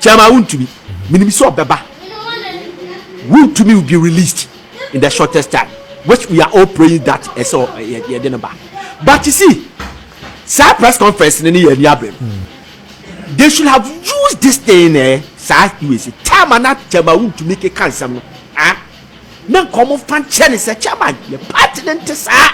Chairman wontumi, menim sɛ ɔbɛba, wontumi will be released in the shortest time which we are all praying that ɛsɛ yɛde no ba but you see saa press conference no ne yɛ ani abere no they should have used this thing eh saa us chairman na chairman wontumi keka nsɛm no ah na nkɔmɔ fa nkyɛ ne sɛ chairman yɛ party no nte saa.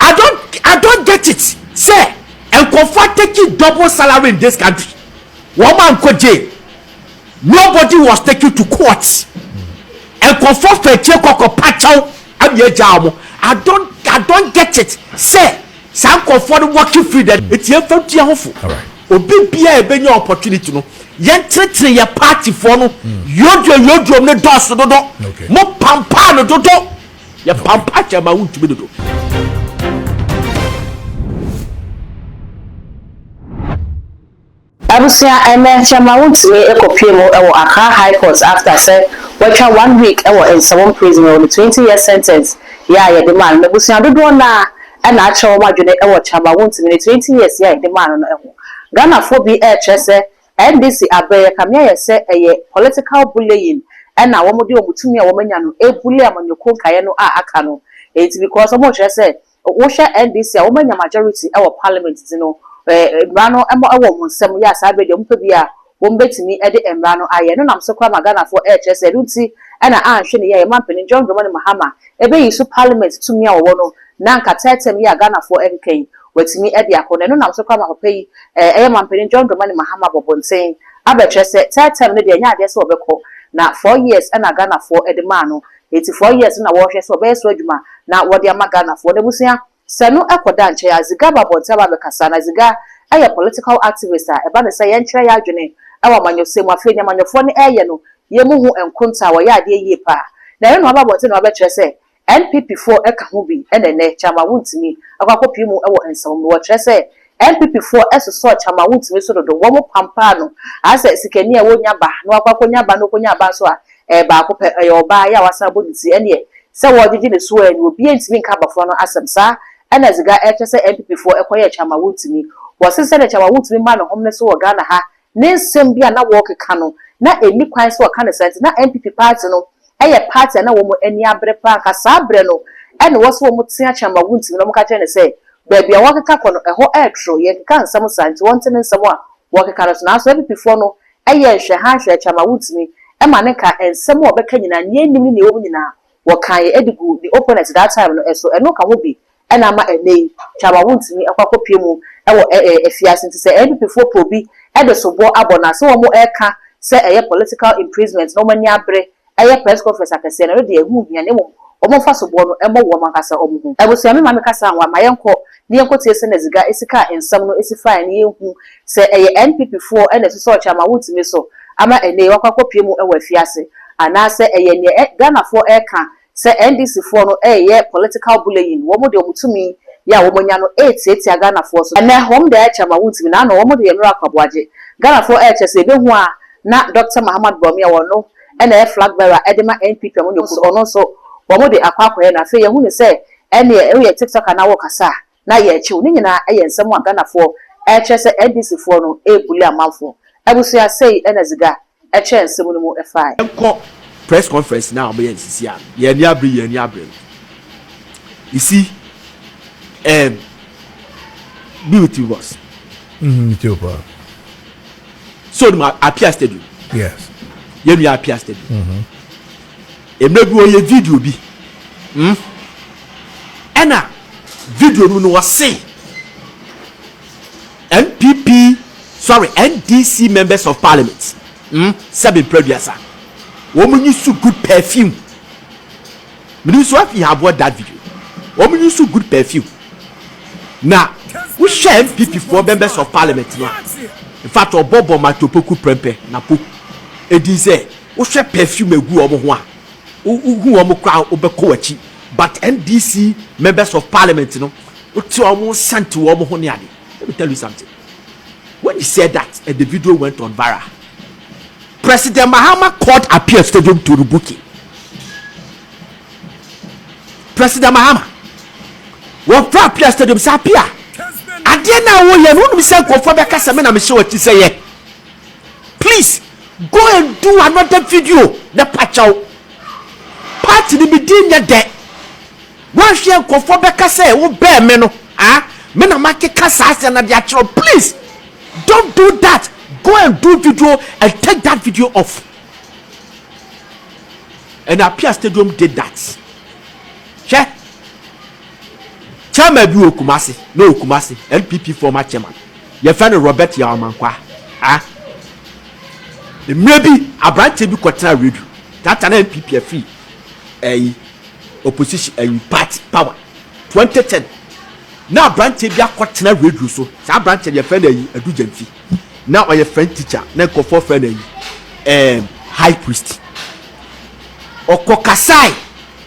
I don't I don't get it sɛ nkɔfo ateki double salary in this country wɔn a nkɔ jail nobody was taken to court nkɔfo fɛkyɛ kɔkɔ pakyɛw ɛmi egya wɔn I don't I don't get it sɛ Saa nkorɔfoɔ no walking free dɛ nti yɛnfa ntu yɛn ho fo obi biaa ɛbɛnya opportunity no yɛntenetene yɛn party foɔ no yoduro yoduro mu no dɔɔso dodo mo pampaa no dodo yɛ pampaa kyɛ ma wontumi dodo. Abusua ɛnɛ kyɛma wontumi kɔ pue mu wɔ Accra High Court after sɛ watwa one week wɔ Nsawam Prison wɔ ne twenty years sentence yɛ a yɛde maa no N'abusua dodoɔ no ara na akyerɛ wɔn adwene wɔ kyɛma wontumi ne twenty years yɛ a yɛde maa no no ho Ghanafoɔ bi rekyerɛ sɛ NDC abrɛ yɛ kame ayɛ sɛ ɛyɛ political bullying na wɔde wɔn tumi a wɔn anya no rebully amanyɔkuo nkaeɛ no a aka no enti because wɔrekyerɛ sɛ Wo hwɛ NDC a wɔn anya majority wɔ parliament nti no eh mmara no ɛmɔ ɛwɔ wɔn nsam yɛ a saa bere deɛ wɔn pɛ bi a wɔn bɛtumi ɛde mmara no ayɛ ɛno nam so koraa ma Ghanafoɔ ɛɛkyerɛ sɛ ɛno nti ɛna anhwɛ ne yɛ a yɛn manpanin John Dramani Mahama ɛbɛyi so parliament tumi a wɔwɔ no na anka third term yi a Ghanafoɔ ɛkeka yi watumi ɛde akɔ na ɛno nam so koraa ma papa yi eh ɛyɛ manpanin John Dramani Mahama abɔ abɔnten abɛkyerɛ sɛ third term no deɛ ɛnyɛ adeɛ sɛ ɔbɛkɔ na four years ɛna Ghanafoɔ ɛde maa no Enti four years na wɔrehwɛ sɛ ɔbɛyɛ so adwuma na wɔde ama Ghanafoɔ. N'abusua sɛ no kɔ da nkyɛn a, Ziga ba abɔnten aba abɛkasa. Na Ziga yɛ political activist a ɛba no sɛ yɛnkyerɛ yɛn adwene wɔ amanyɔsɛm mu. Afei nea amanyɔfoɔ no reyɛ no yɛ mu ho nkonta a wɔyɛ adeɛ yie paa. Na ɛno na waba abɔnten na wabɛkyerɛ sɛ NPPfoɔ ka ho bi na ɛnɛ Kyama wontumi akɔ akɔpie mu wɔ nsɛm mu. Wɔkyerɛ sɛ NPP foɔ ɛsosɔɔ Kyamawuntumi so dodo, wɔn pampaa no, aa sɛ sikani a wɔnya ba, na wakɔ akɔ nya ba na ɔkɔ nyaa ba nso a, ɛyɛ baako pɛ, ɛyɛ ɔbaa, yɛ a wasan abɔ ne ti, ɛneɛ, sɛ wɔɔgyegye ne soɔ ɛɛni, obiaa ntumi nka abɔfra no asɛm, saa ɛna Ziga ɛɛkyɛ sɛ NPP foɔ ɛkɔ yɛɛ Kyamawuntumi, wɔse sɛdeɛ Kyamawuntumi maa ne hom no so wɔ Ghana ha, Ne nsɛm bi a na wɔrekeka no, na ɛnni kwan sɛ wɔka no saa, enti na NPP paati no yɛ paati a na wɔn ani abere paa. Anka saa berɛ no na ɛwɔ sɛ wɔte akyɛn ma wɔntumi, na wɔka kyerɛ no sɛ, baabi a wɔrekeka kɔ no, ɛhɔ yɛ toro, yɛnkeka nsɛm saa, enti wɔnte ne nsɛm a wɔrekeka no so. Nanso NPPfoɔ no yɛɛ nhwɛha nhwɛɛ akyɛn ma wɔntumi, ɛma no nka nsɛm a ɔbɛka nyinaa, nea ɛnnim ne nea ɛwom nyinaa, wɔkaa yɛn de guu the opponent that time no so, ɛno ka ho bi na ama ɛnnɛ yi Twama wontumi nkɔ akɔpue mu wɔ afiase nti sɛ NPP foɔ pɛ obi de soboɔ abɔ no a sɛ wɔn reka sɛ ɛyɛ political imprisonment na wɔn ani abere yɛ press conference akɛseɛ no ɛno deɛ ɛho nhia na mmom wɔmfa soboɔ no mmɔ wɔn ankasa wɔn ho abusua. Me maame ka saa ho a ma yɛnkɔ ne yɛnkɔtie sɛnea Dziga si kaa nsɛm no si fae na yɛnhu sɛ ɛyɛ NPP foɔ na ɛsosɔɔ Chairman Wontumi so ama ɛnnɛ yi wakɔ akɔpue mu wɔ afiase anaasɛ ɛyɛ neɛ Ghanafoɔ reka sɛ NDC foɔ no reyɛ political bullying, wɔn de wɔn tumi yi a wɔanya no retiatia Ghanafoɔ so. Ɛnnɛ wɔn de ayɛ Chairman Wontumi na ano wɔn de yɛ Nora Kwaboagye. Ghanafoɔ rekyɛ sɛ yɛbɛhu a na Dɔkta Mahamat Bawumia wɔ no na ɛyɛ flag bearer de ma NPP a wɔnyɛ komm so ɔno nso wɔn de akɔ akɔyɛ no afei yɛhu no sɛ Ɛneɛ woyɛ tiktoker na wokasa a na yɛkye wo. Ne nyinaa ɛyɛ nsɛm a Ghanafoɔ ɛkyerɛ sɛ NDC foɔ no ɛɛbuli amanfoɔ. Abusua sei ɛna ziga ɛkyɛɛ nsɛm no mu ɛfaaɛ. Yɛnkɔ press conference no a wɔbɛyɛ no sisi a yɛn ani abere yɛn ani abere no you see ehm be with you boss. Mm me too paa. So onim Appiah stadium? Yes. Yɛn nua Appiah stadium. Mm hmm. Mmerɛ bi ɔyɛ video bi mm ɛna video no mu no ɔse NPP sorry NDC members of parliament mm sɛbe mprɛ aduasa wɔn use so good perfume menim so afi have watched that video wɔn use so good perfume na wohwɛ NPP foɔ members of parliament no a in fact ɔbɔ bɔ matopoku prɛmpɛ napo ɛdin sɛ Wohwɛ perfume a egu wɔn ho a, wohu wɔn koraa a wobɛkɔ w'akyi. But NDC members of parliament no, wote wɔn nsa nte wɔn ho ne ade. Let me tell you something, when he said that and the video went on viral, President Mahama called Appiah Stadium to rebuke him. President Mahama, wɔfrɛ Appiah Stadium sɛ Appiah, adeɛ no a woyɛ no, wonim sɛ nkurɔfoɔ bɛka sɛ me na mehyɛ w'akyi sɛ yɛ. Please, Go and do another video na pa kyɛw. Part no me din nyɛ dɛ. Woanhwɛ a nkurɔfoɔ bɛka sɛ wo bɛɛ me no ah me na makeka saa asɛm no de akyerɛ wo please don't do that go and do video and take that video off and appear stadium did that hwɛ chairman bi wɔ Kumasi na ɔwɔ Kumasi NPP former chairman. Yɛfrɛ no Robert Yaw Amankwah. A Mmerɛ bi aberanteɛ bi kɔtenaa radio taataa na NPP afiri ayi opposition ayi party power 2010 na aberanteɛ bi akɔtena radio so saa aberanteɛ no yɛfrɛ no ayi Adu Gyamfi na ɔyɛ French teacher na nkorɔfoɔ frɛ no ayi ɛɛm high priest ɔkɔkasae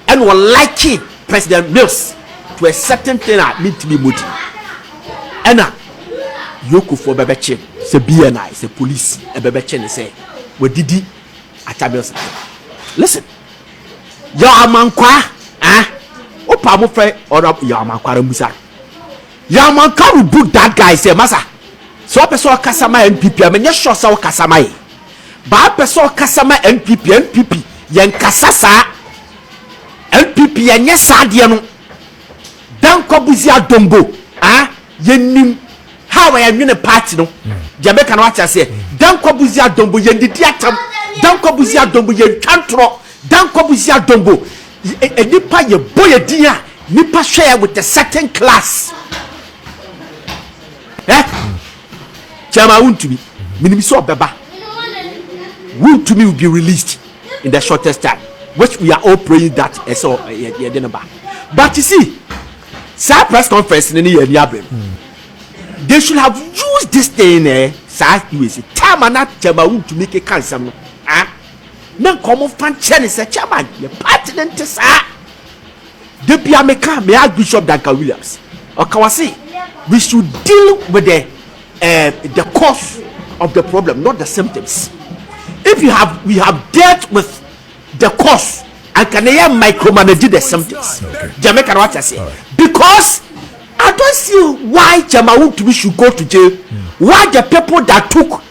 Ɛna ɔ likee President Mills to a certain thing a mentumi mmɔ din. Ɛna Yokofoɔ bɛbɛkye no sɛ BNI, sɛ police ɛbɛbɛkye no sɛ wadidi Atta Mills atɛm. Listen, Yaw Amankwah, ah, wopɛ a mofrɛ Honourable Yaw Amankwah ara mmusa no. Yaa manka rebuke that guy sɛ masa sɛ ɔpɛ sɛ ɔkasa ma NPP a menyɛ sure sɛ ɔkasa ma yɛn but ɔpɛ sɛ ɔkasa ma NPP a NPP yɛnkasa saa NPP yɛnyɛ saa adeɛ no Dankwabuzi Adombo ah yɛnim how a yɛnwene party no deɛ meka no wate aseɛ Dankwabuzi Adombo yɛndidi atam Dankwabuzi Adombo yɛntwa ntorɔ Dankwabuzi Adombo Yɛ nipa yɛ bɔ yɛ din a nipa hwɛ yɛ with a certain class ɛ kyɛma wuntumi minim sɛ ɔbɛba wuntumi will be released in the shortest time which we are all praying that ɛsɛ yɛ de no ba but you see saa press conference ne ne yɛ ani abɛm they should have used this thing eh saa us time ana kyɛma wuntumi keka nsɛm no ah. na nka ɔmo fa nkyɛ ne sɛ chairman yɛ party no nte saa da bia me ka me archbishop Duncan Williams ɔka wa se we should deal with the uh, the cause of the problem not the symptoms if you have we have dealt with the cause anka ne yɛ micromanage the symptoms Jamaica no wate aseɛ because I don't see why Jama Wuntumi should go to jail. Why the people that took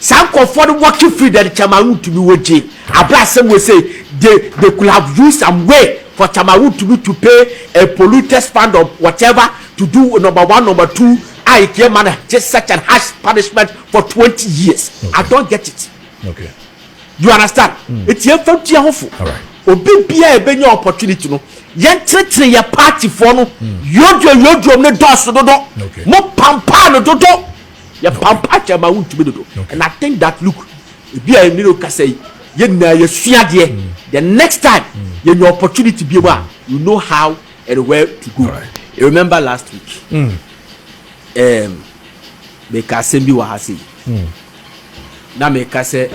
Saa nkorɔfoɔ no walking free then Chairman wontumi wɔ gye aberɛ a asɛm wɔ sei they they could have used some way for Chairman wontumi to pay a polluted span or whatever to do number one number two a it yɛ ma no gye such an harsh punishment for twenty years I don't get it you understand nti yɛnfa ntua ho fo obi biara a yɛbɛnya opportunity no yɛntenetene yɛ party foɔ no yodwo yodwo no dɔɔso dodo mo pampaa no dodo. Yɛ pampa kyɛ ma wo ntumi dodo and I think that look ebi a ɛne no kasa yi yɛ nyinaa yɛ sua adeɛ the next time yɛ nya opportunity biom a we know how and where to go you remember last week ehm me ka asɛm bi wɔ ha sei na me ka sɛ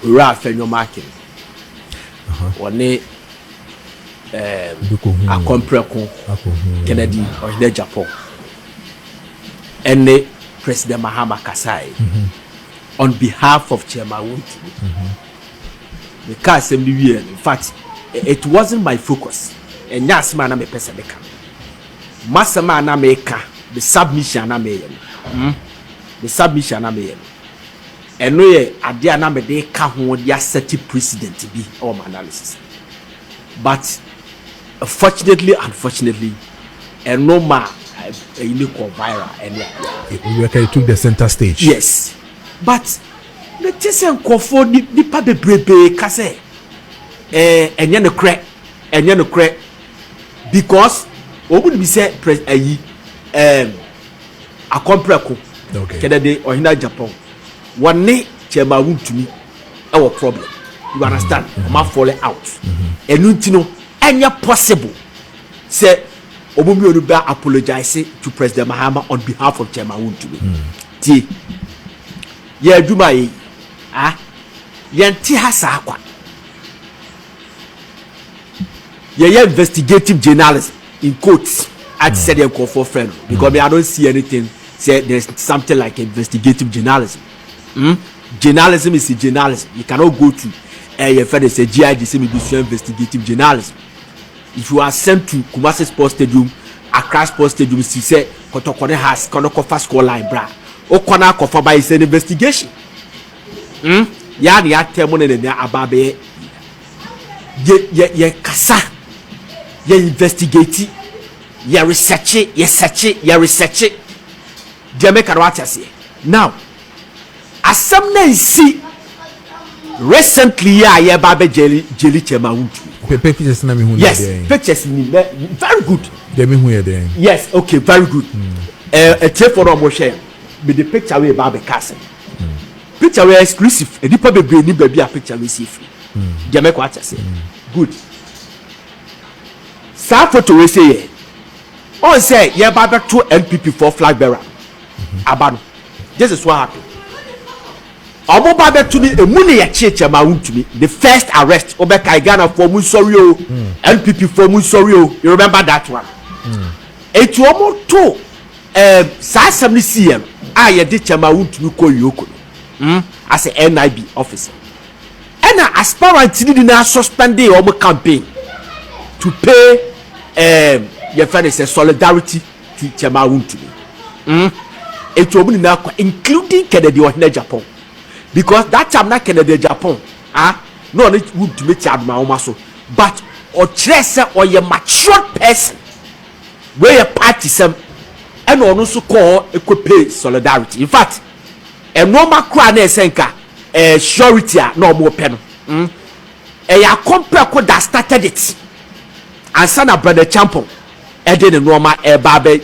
owura afɛ nyɔma aken wɔne ehm akɔmprɛko kennedy ɔhene japan ɛne President Mahama kasae on behalf of Chairman Wontumi. Meka asɛm no wieɛ no, in fact, it wasn't my focus. Ɛnyɛ asɛm a na mepɛ sɛ meka no. M'asɛm a na meka, me submission a na meyɛ no, mm, me submission a na meyɛ no, ɛno yɛ adeɛ a na mede ka ho de asɛte President bi wɔ m'analysis no. But, Fortunately unfortunately ɛno maa ɛyi no kɔɔ viral ɛne adeɛ a. Owuraka took the centre stage. Yes but me te sɛ nkurɔfoɔ nipa bebrebee ka sɛ ɛɛ ɛnyɛ nokorɛ ɛnyɛ nokorɛ because wɔn nim sɛ pres ɛyi ɛɛm Akɔmprɛko kɛdɛde ɔhene Agyapong wɔne Chairman Wontumi. ɛwɔ problem you understand mm-hmm. ɔmo afɔle out ɛnu mm-hmm. nti no ɛnyɛ possible sɛ ɔmo mmienu bɛ apologize to president mahama on behalf of chairman wontumi mm. tie yɛ adwuma yɛ ah yɛn ti ha saa kwa yɛyɛ investigative journalism in quotes ati sɛ deɛ nkurɔfoɔ fɛ no because me i don't see anything sɛ there's something like investigative journalism. Hmm journalism is a journalism you cannot go to ɛɛ yɛ fɛ de sɛ GIG sɛ mi bi sua investigative journalism if you are sent to Kumasi sports stadium Accra sports stadium si sɛ kɔtɔkɔ ne has kɔ ne kɔ fa score line bra o kɔ na akɔ fa ba is an investigation hmm yɛ ani atɛ mo ne ne ne aba abɛyɛ yɛ yɛ yɛ kasa yɛ investigate yɛ research yɛ search yɛ research. Deɛ meka no wate aseɛ now asɛm no ansi recently yi a yɛba abɛ gyeli gyeli kyɛm a wontumi. Hwɛ pictures na mehu no yɛ dɛn. Yes pictures nim na very good. Deɛ mehu yɛ dɛn. Yes ok very good ɛɛ atiefoɔ no a wɔhwɛ yɛn mede picture wei ba abɛka asɛm picture wei exclusive nnipa bebree nim baabi a picture wei si efiri deɛ mɛkɔ wate aseɛ good saa photo wei sɛ yɛ. Ɔn sɛ yɛba abɛto NPP foɔ flag bearer aba no this is what happen ɔmo ba abɛto no emu na yɛkyeekyɛ maa wontumi the first arrest wobɛkae Ghana foɔ mo nsɔre o NPP foɔ mo nsɔre o you remember that one eti ɔmo to ɛɛm saa asɛm no siiɛ no a yɛde kyɛ maa wontumi kɔ Yoko no hmm as a NIB officer. Ɛna aspirant no nyinaa suspendee wɔn campaign to pay um, yɛfɛ ne sɛ solidarity ti kyɛm a wontumi. Mm. Eti wɔn nyinaa kɔ including Kennedy ɔhene Japan because that time na Kennedy Japan ah na ɔne wontumi te adomawoma so but ɔkyerɛ sɛ ɔyɛ matured person wei yɛ party sɛm ɛna ɔno nso kɔɔ ɛkɔ pay solidarity in fact Nnoɔma koraa na ɛsɛ nka ɛɛ surety a na ɔmo pɛ no mm ɛyɛ akɔmpɛko that started it ansa na Bernard Champong ɛde ne nnoɔma ɛɛba abɛ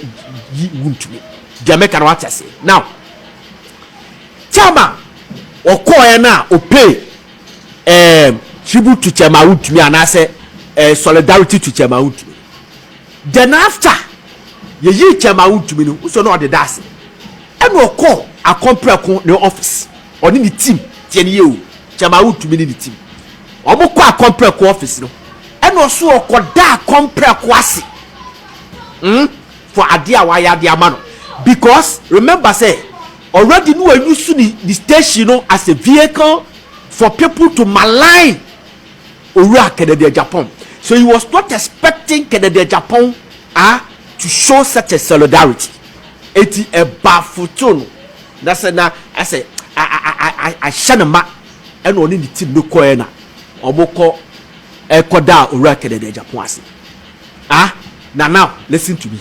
yi wuntumi deɛ meka no wate aseɛ now time a ɔkɔɔɛ no a ɔpay ɛɛm tribute to Chairman wuntumi anaasɛ ɛɛ solidarity to Chairman wuntumi. Then after yeyii kyɛ maa wontumi no, wosɔ na ɔde da ase. Ɛna ɔkɔɔ Akon Prɛko ne office, ɔne ne team, tie no yie o, kyɛ maa wontumi ne ne team. Wɔn kɔ Akon Prɛko office no, ɛna ɔso ɔkɔ da Akon Prɛko ase hmm for adeɛ a wayɛ ade ama no because remember sɛ already no wa use ne station no as a vehicle for people to malign owuraa Kennedy-Agyapong. So he was not expecting Kennedy-Agyapong ah to show such a solidarity? Enti ɛbaffled no na sɛ na asɛ ahyɛ no ma ɛna ɔne ne team no kɔɛ na wɔkɔ ɛkɔdaa owura Kennedy-Agyapong ase ah na now listen to me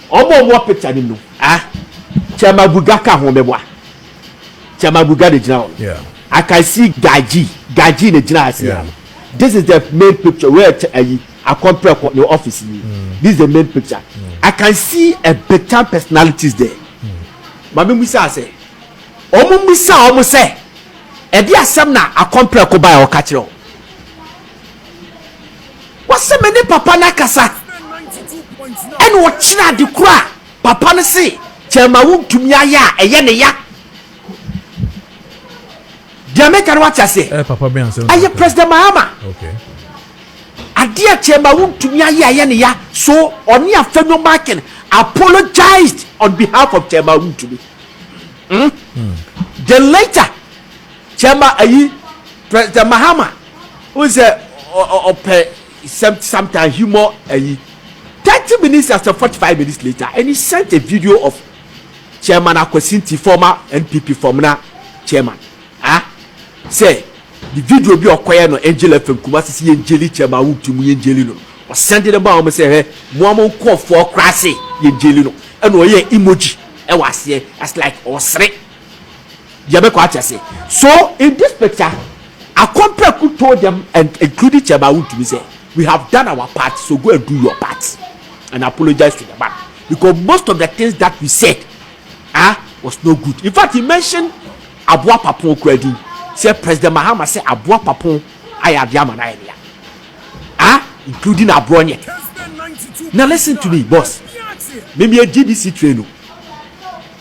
wɔn a wɔwɔ picture no mu no ah kyɛ ma Guga ka ho mɛboa. Sɛ Mabuga na gyina hɔ no, yeah. I can see Gaji. Gaji na gyina ase yeah. This is the main picture. Where ayi akɔmprɛkɔ ne office ni. Mm. This is the main picture. Mm. I can see a big time personalities there. Mm. Maame Musa sɛ, wɔn Musa wɔn sɛ, ɛde asɛm na akɔmprɛkɔ baa ɔka kyerɛ wɔn. Wɔsɛ me ne papa n'akasa ɛna ɔkyerɛ ade koro a. Papa no se kyɛɛ ma wontumi ayɛ a ɛyɛ ne ya. Deɛ meka no wate aseɛ? Ɛyɛ President Mahama. Adeɛ a kyɛɛ ma wontumi ayɛ a ɛyɛ ne ya. So ɔne Afenyo Markin apologised on behalf of kyɛɛ ma wontumi. Then later kyɛɛ ma ayi President Mahama wohu sɛ ɔpɛ. Some sometimes humor ayi. Thirty minutes as a forty five minutes later and he sent a video of Chairman Akwasi Nti former NPP Fɔmena Chairman ah sɛ ne video bi a ɔkɔyɛ no Angel FM Kumasi sɛ yɛn gyeli Chairman Awutu mu yɛn gyeli no no ɔsɛnde no maa wɔn sɛ hwɛ moa mo nkɔɔfoɔ koraa se yɛn gyeli no ɛna ɔyɛ emoji ɛwɔ aseɛ as like ɔsere Yɛbɛkɔ ate ase. So in this picture, Akompaku told them and including Chairman Wontumi sɛ, we have done our part so go and do your part and apologize to the man because most of the things that we said ah, was not good. In fact, he mentioned Aboa Papon kura din sɛ President Mahama sɛ Aboa Papon ayɛ adeɛ ama no ayɛ ne ya ah, including Aborɔnyɛ. Now listen to me, boss. Mimi a GBC train o.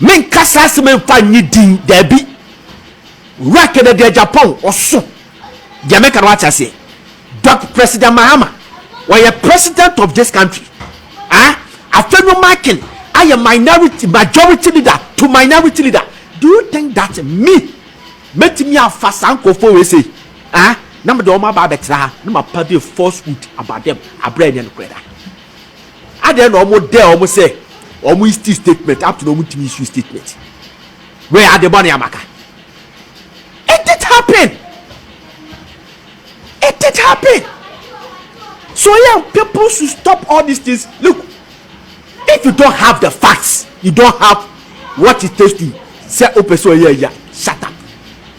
Menka saa asɛm yi mfa nnye din, dabi. Owura Kennedy Agyapong, ɔso. Deɛ meka no wate aseɛ. Dɔk. President Mahama, ɔyɛ President of this country. Ah, afei no Makin ayɛ minority, majority leader to minority leader. Do you think that me, mɛtumi afa saa nkorɔfoɔ wei sei, ah, na mede wɔn aba abɛtra ha na mapa de falsehood about them abrɛ ɛnyɛ nokorɛ da. Adɛn na ɔmo dɛ ɔmo sɛ ɔmo isti statement up to na ɔmo ntumi issu statement wei ade bɔne amaka it did happen it did happen so yeah people should stop all these things look if you don't have the facts you don't have what it takes to sɛ o pɛ sɛ ɔyɛ ɛya shut up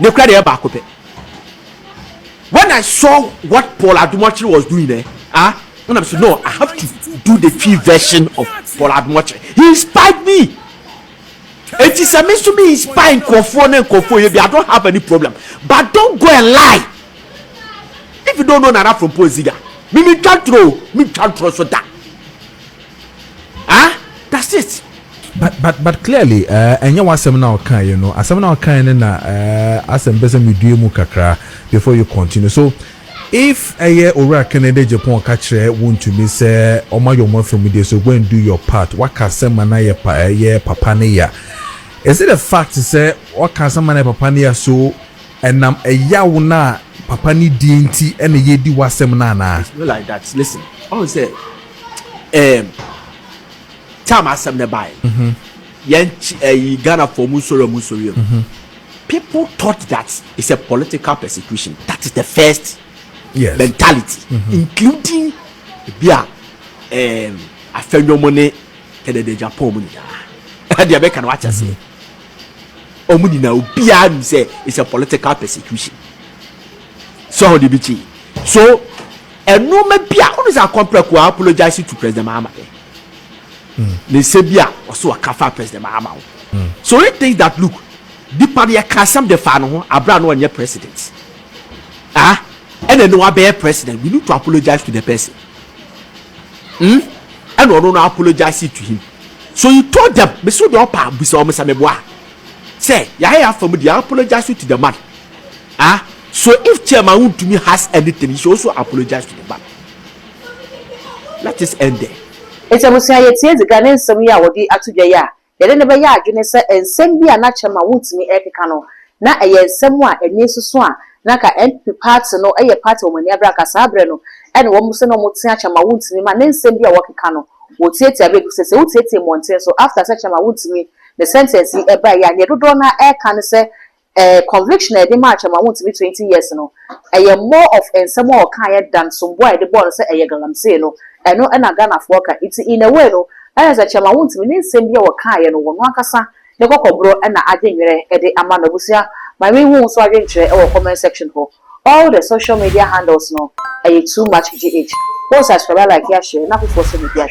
Ne kura deɛ baako pɛ. When I saw what Paul Adumokyere was doing eh, ah, when I'm so no, I have to do the Twi version of Paul Adumokyere. He inspired me. Eti sɛ me nso me inspire nkurɔfoɔ ne nkurɔfoɔ yɛ bi, I don't have any problem. But don't go and lie. If you don't know Nana Frompo Nziga, me me twa ntoro, me twa ntoro so da. Ah! That's it! But but but clearly eh, ɛnyɛ w'asɛm na ɔkaeɛ no, asɛm na ɔkaeɛ no na eh, asɛ mpɛ sɛ medue mu kakra before you continue. So if ɛyɛ Owura Kennedy Agyapong ka kyerɛ wo ntumi sɛ ɔmayɔ ɔmo afamudie so go and do your part, waka asɛm ma no ayɛ pa ɛyɛ papa ne ya. Is it a fact sɛ waka asɛm ma no ayɛ papa ne ya so ɛnam ɛyaw no a papa no di nti ɛna yɛredi w'asɛm no anaa? It's not like that, listen, ɔhu sɛ. ɛɛm tam asɛm no baeɛ no mhm. yɛn ɛyi eh, ghana fɔ mu nsori ɔmu nsori ɔmu mhm. people thought that it's a political persecution that is the first yes. mentality mm -hmm. including ebi a ɛɛm afɛnwom ne tɛdɛdɛ japan mu nyinaa ɛdeɛ bɛka no wakyɛ seɛ ɔmu nyinaa obiara nim sɛ it's a political persecution so ɔde bi kyi so. Nnoɔma bi a wone sɛ akɔ prɛko a apologize to President Mahama dɛ ne nsɛm bi a ɔse ɔka faa President Mahama ho so he thinks that look nipa no yɛka asɛm de faa ne ho aberɛ a na ɔnyɛ President ah ɛna ɛnɛ wabɛyɛ President we need to apologize to the person hmm ɛna ɔno no apologize to him so he told them mese wo deɛ ɔpa bisa wɔn sɛ meboa sɛ yɛayɛ afa mu deɛ apologize to the man ah So if chairman wontumi has anything you should also apologize to the bank let this end there. Enti abusua yɛtie edzikan ne nsɛm yi a wɔde ato dwa yi a yɛde no bɛyɛ adwene sɛ nsɛm bi a na chairman wontumi rekeka no na ɛyɛ nsɛm a ani soso a na anka NPP party no yɛ party a wɔn ani abere anka saa bere no ɛne wɔn sɛ na wɔn tea chairman wontumi ma ne nsɛm bi a wɔkeka no wɔtiatia bere bi sɛ sɛ wotiatia mmɔnten so after sɛ chairman wontumi ne sentence yi ɛbaeɛ a neɛ dodoɔ no ara ɛreka ne sɛ Eh conviction a yɛde maa Kyerema Wontumi twenty years no, ɛyɛ more of nsɛm a ɔkaeɛ than somboɔ a yɛde bɔɔ no sɛ ɛyɛ galamsey no, ɛno na Ghanafoɔ ka. Nti in a way no, ɛyɛ sɛ Kyerema Wontumi ne nsɛm bi a ɔkaeɛ no ɔno ankasa ne kɔkɔborɔ na adwenwerɛ de ama no. Abusua, ma me nhu wo nso adwenkyerɛ wɔ comment section hɔ. All the social media handles no ɛyɛ too much GH. Wo subscribe, a like, a share na afoforɔ nso mmɛdi ahwɛ.